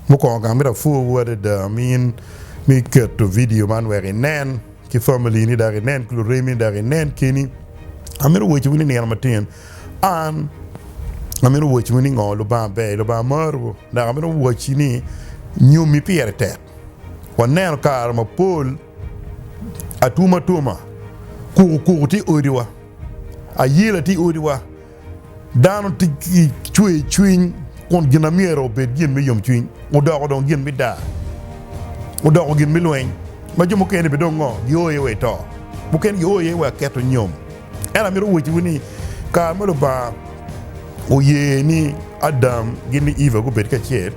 Mukwongo gang myero apwowu adada min me keto vidio man wek inen ki family ni dok inen ki luremi ni dok inen keni. Amito wociwu ni nino matin an amito wociwu ni ngo Lubanga ber, Lubanga marowu dok amito woci ni nyomi pire tek. Waneno kare mapol atuma atuma, kuku kuku tye i odiwa, ayela tye i odiwa. Dano tic ki cwercwiny kun gin ma myero obed gin me yomcwiny odoko dong gin me daa, odoko gin me lweny ma jo mukene bene dong ngo gio iye wa i to, mukene gio iye wa i keto nyom. Ento amito wacciwu ni kare ma Lubanga oye ni Adam ki ni Eva gubed kacel,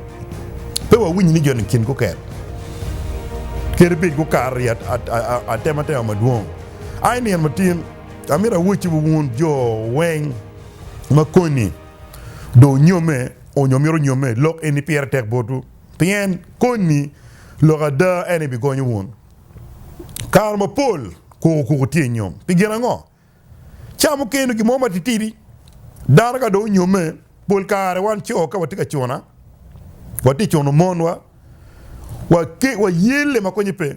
pe wawinyo ni joni kingi guket. Kadi bed gukato i atematema madwong, aye nino matin, Amito awocci wa wun jo weng ma koni dong onyome onyo mito nyome, lok eni pire tek botwu, pien koni lok ada en aye bigonyo wun. Kare mapol kuko kuko tye i nyom. Pi gin ango? Ca mukene gin mo matitidi dano ka dong onyome, pol kare wan co ka watye ka cuna, watye cuno monwa, wayelle ma konye pe.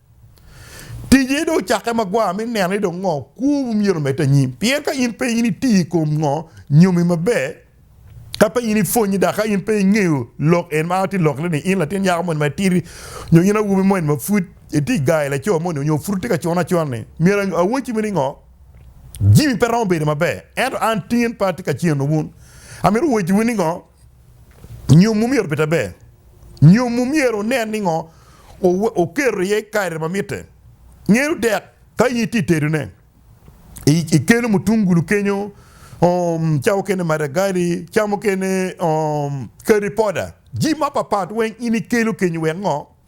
Tije dong ocakke magwar me neno ni dong ngo kwowu myero omedde anyim. Pien ka in pe in iti i kom ngo nyomi maber, ka pe in ipwonye dok ka in pe ingeyo lok en ma ati lokine ni in latin nyako moni ma itidi nyo in awobi moni ma pud iti ga i laco moni nyo pud itye ka cun acun ni myero awacci ni ngo, jami pe romo bedo maber. Ento an tin pe atye ka ceno wun. Amito wacciwu ni ngo? Nyom omyero obed aber. Nyom omyero onen ni ngo oketo iye kare ma mitte. Ngene odek ka in itye tedone, ikeno mutungulu kenyo, ca mukene madagali, ca mukene curry powder, jami mapat pat weng in ikelo kenyo wek ngo?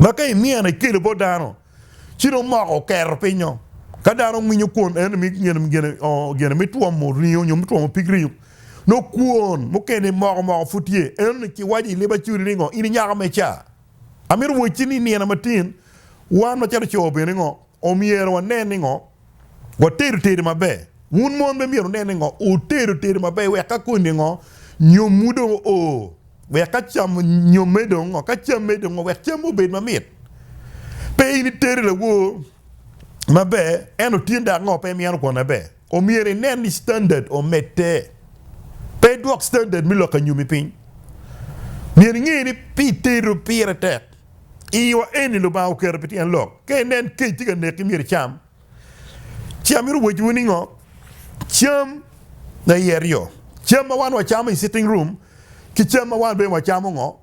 Ma ka inino ikelo bot dano, ci dong moko oketo pinyo. Ka dano winyo kwon en mi gene me twomo ringo nyo me twomo pig ringo, no kwon mukene moko moko pud tye. En ni kiwaco i lib acudi ni ngo, in inyaka me ca, amito wacci ni inino matin, wan macalo co bene ngo, Omyero wanen ni ngo? Watedo tedo maber. Wun mon be myero wunen ni ngo? Wutedo tedo maber wek ka koni ngo nyomwu dong o, wek ka cam nyomme dong ngo, ka camme dong ngo, wek camme obed mamit. Pe in itedo lawor maber ento tye dok ngo pe imyeno kwon maber. Omyero inen ni standard omedde. Pe idwok standard me lok anyomi piny. Myero inge ni pi itedo pire tek. I yo eni Lubanga oketo pi tyen lok. Ka inen kec tye ka neki myero icam. Ci amito wacciwu ningo? Cam na iye ryo. Cam ma wan wacamo i sitting room ki cam ma wan bene wacamo ngo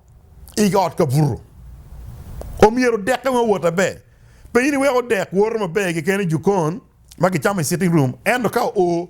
i ot ka buto. Omyero odekke weng owot maber. Pe in iwek odek woto maber keken i jukon ma kicamo i sitting room ento ka oo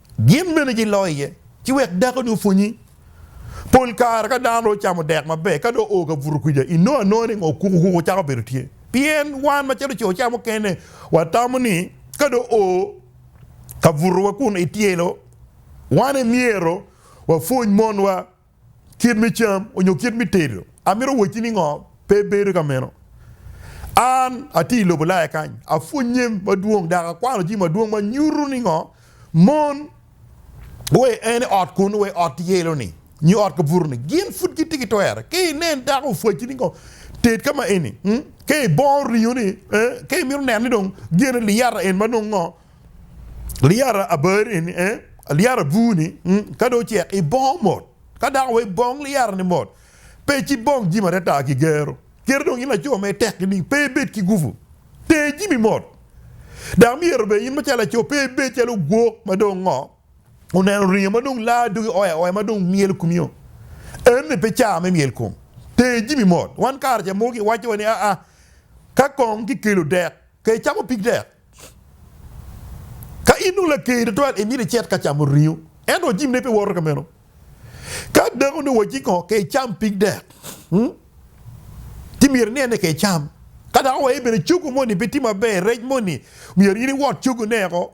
Gin bene giloi iye, ci wek dakoni opwonyi. Pol kare ka dano dong ocamo dek maber, ka dong oo ka buto kwija, inongo anonga ni okuku okuku cako bedo tye. Pien wan macalo co ca mukene, watamo ni ka dong oo ka butowa kun etyelo, wan emyero wapwony monwa. kit me cam onyo kit me tedo. Amito wacci ni ngo? Pe bedo ka meno. An atye i lobo Ulaya kany, apwonye madwong dok akwano jami madwong ma nyuto ni ngo? Mon wai en i ot kunu, wai ot yelo-ni nyo ot kabuto-ni, gin pud gitye ki twere. Ka inen dako opwacci ni ngo? Ted ka ma eni. Ka ibongo ringo-ni, ee, ka imito neno ni dong gene liyata en ma nongo ngo? Liyara abari ni eh, liyara abur ni mm, ka dong ocek ibong mot. Ka dako wa ibong liyara ni mot, pe ci bong jimi atata ki gero. Kit dong in laco ma itek ki ni pe ibed ki gupu, ter jimi mot. Dok myero bene in macalo laco pe ibed calo ogwok ma dong ngo oneno ringo ma dong laa dogi oya oya ma dong myelo komio. Eni pe caa me myel kom. Ter jimi mot. Wan kare ca mogo ki waco wa ni aa ka kong ki kelo dek, ka icamo pig dek. Ka in dong laker tutwal, imito icit ka camo ringo, ento wajibine pe woto ka meno. Ka dako ni waci kongo ka icam pig dek, ci myero inen ni ka icam. Ka dako waye bene cogo moni pe tye maber, rec moni, myero in iwot cogone weko,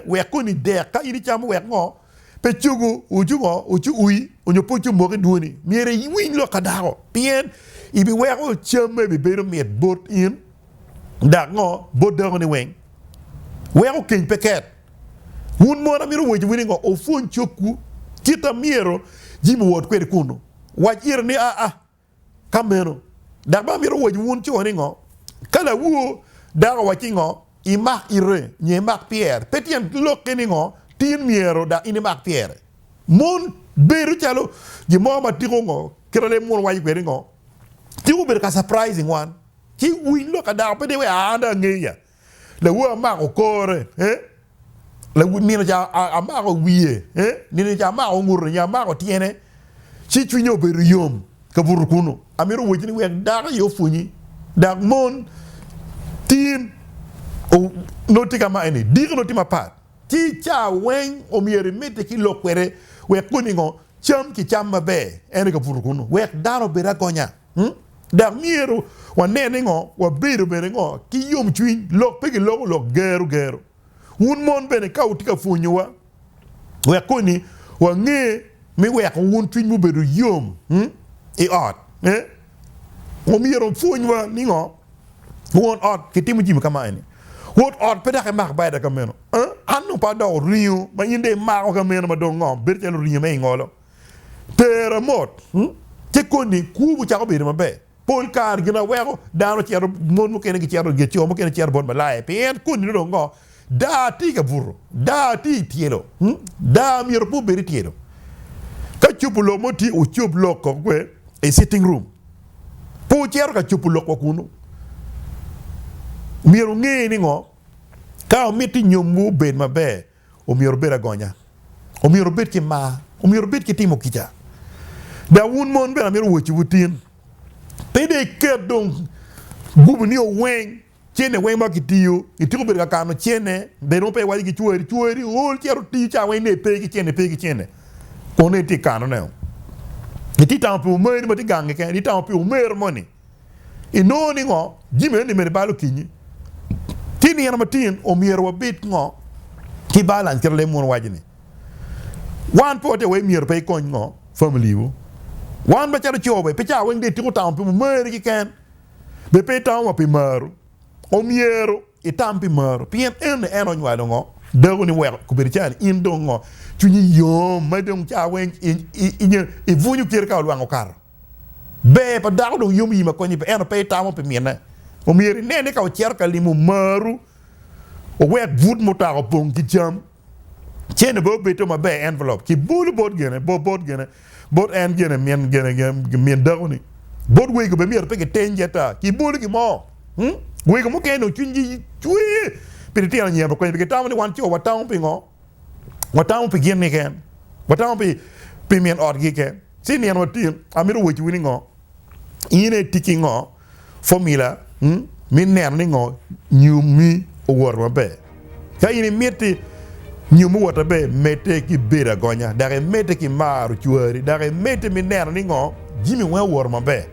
wek koni dek ka in icamo wek ngo Pe cogo ocungo ocui onyo pe ocung moko i dwoni. Myero iwiny lok ka dako, pien ibiweko cam ma bibedo mit bot in, dok ngo, bot dakoni weng, weko keny pe ket. Wun mon, amito wacowu ni ngo, opwony cogwu kit a myero Jimmy owot kwede kunu. Wac ire ni aa. Ka meno, dok bene amito wacci wun co ni ngo? Ka lawu dako owacci ngo, imak ite, nyo imak pyere, pe tyen lokke ni ngo, tin myero dok in imak pyere. Mon, bedo calo gin mo ma tiko ngo, kit ma leb muno waco kwede ngo, tiko obedo ka surprising wan, ci winy lok ka dako pe deyo wek aa, an dong angeya. Lawu amako kore, lawu nino ca amako wiye, nino ca amako ngute nyo amako tyene, ci cwinya obedo yom kabuto kunu. Amito wacci ni wek dako aye opwonyi, dok mon tin nongo tye kama eni, diki nongo tye mapat, ci ca weng omyero imedde ki lok kwede wek koni ngo cam ki cam maber, en aye kabuto kunu, wek dano obed agonya. Dok myero wane ni ngo, wabedo bene ngo ki yomcwiny, lok pe giloko lok gero gero. Wun mon bene ka wutye ka pwonyowa wek koni wange me weko wun cwinywu obedo yom i ot, omyero wupwonywa ni ngo won ot kitimo jami ka ma eni, won ot pe dok emak bada ka meno, an dong pe adoko ringo ma in dong imako ka meno ma dong ngo bedo calo ringo me ingolo. Tera mot, ci koni kwobu cako bedo maber. Pol kare gin aweko dano cito, mon mukene gicito, co mukene gicito bot malaya pien koni dong ngo? Daa tye ka buto, daa tye i tyelo, daa myero pe obed i tyelo. Ka cobo lok mo tye, wucob lok koko i sitting room, pe wucito ka cobo lok wa kunu. Myero wunge ni ngo? Ka wumito nyomwu obed maber, Omyero obed agonya. Omyero obed ki mar. Omyero obed ki timo kica. Dok wun mon bene amito wacciwu tin, pe dong iket dong gubo ni oweng cene weng ma kitiyo, ityeko bedo ka kano cene, dong nongo pe iwaco ki cwari, cwari ool cito otiyo cawa weng ne pe ki cene, pe ki cene. Kono itye ka kanone-o. Itye ka tamo pi omari ma tye gangi kene, itye ka tamo pi omero moni. Inongo ni ngo jami eni medo bal okinyi? Ki nino matin omyero wabed ngo ki bal? An kit ma lem mono waco ni wan pe watye wai myero pe ikony ngo family wu. Wan macalo co be pe ca weng dong itiko tamo pi mumeri kiken be pe itamo wa pi maru. Omyero itam pi maru pien eni en onywalo ngo dako ni weko kobedo ca ni in dong ngo cwinyi yom ma dong ca weng ibwunyo kite ka olwang okato. Ber pa dako dong yom i ma konye pe ento pe itamo pi mine. Omyero ine ni ka wucito ka limo omaru, wuwek but mutoka opong ki jam. Cene bene obed to maber, envelope, kibolo bot gene, bot gene, bot en gene, min gene, min dakoni. Bot wego bene myero pe kitengi ata, kibolo gin mo. Wego mukene dong cwinygi cwer pi litino anyira ma konye pe. Kitamo ni wan co watamo pingo? watamo pi gin niken, watamo pi pi min ot gi ken ci nino watin amito weci wini ngo ine i tiki ngo formula mi neno ni ngo nyum mi owoto maber ka ine miti nyum mi owoto maber mete ki bedo agonya dok imete ki maro cwari dok imete mi neno ni ngo jimi weng owoto maber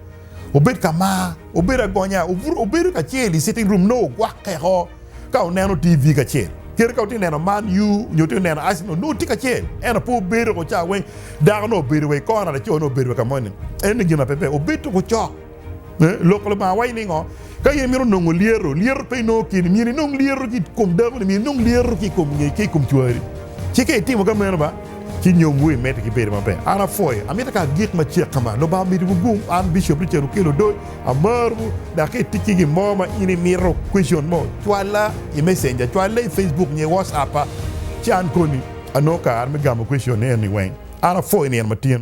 obed ka mar obed agonya obedo kacel i sitting room no ogwakke ko Ka oneno TV kacel kite ka otye neno Man U nyo tye neno Arsenal nongo tye kacel ento pe obedo ko ca weng dako nongo obedo wa i kona laco nongo obedo wa kamo ni en ni gin ma pepe obed to ko cok Lok Lubanga waco ningo ka in mito nongo lyeto lyeto pe inongo kini myero inong lyeto ki kom dako ni myero inong lyeto ki kom ki kom cwari ci ka itimo ka meno ba Ci nyomwu i medo ki bedo maber. An apwoyo. Amito ka agik macek ka ma. Lubanga omiti wugum. An, Bishop Richard Okello Odoy, amarowu. Dak ka itic ki gin mo ma in imito, question mo, cwalla i Messenger, cwalle i Facebook nyo i WhatsApp-pa, ci an koni. Anongo kare me gamo question-ni eni weng. An apwoyo nino ma tyen.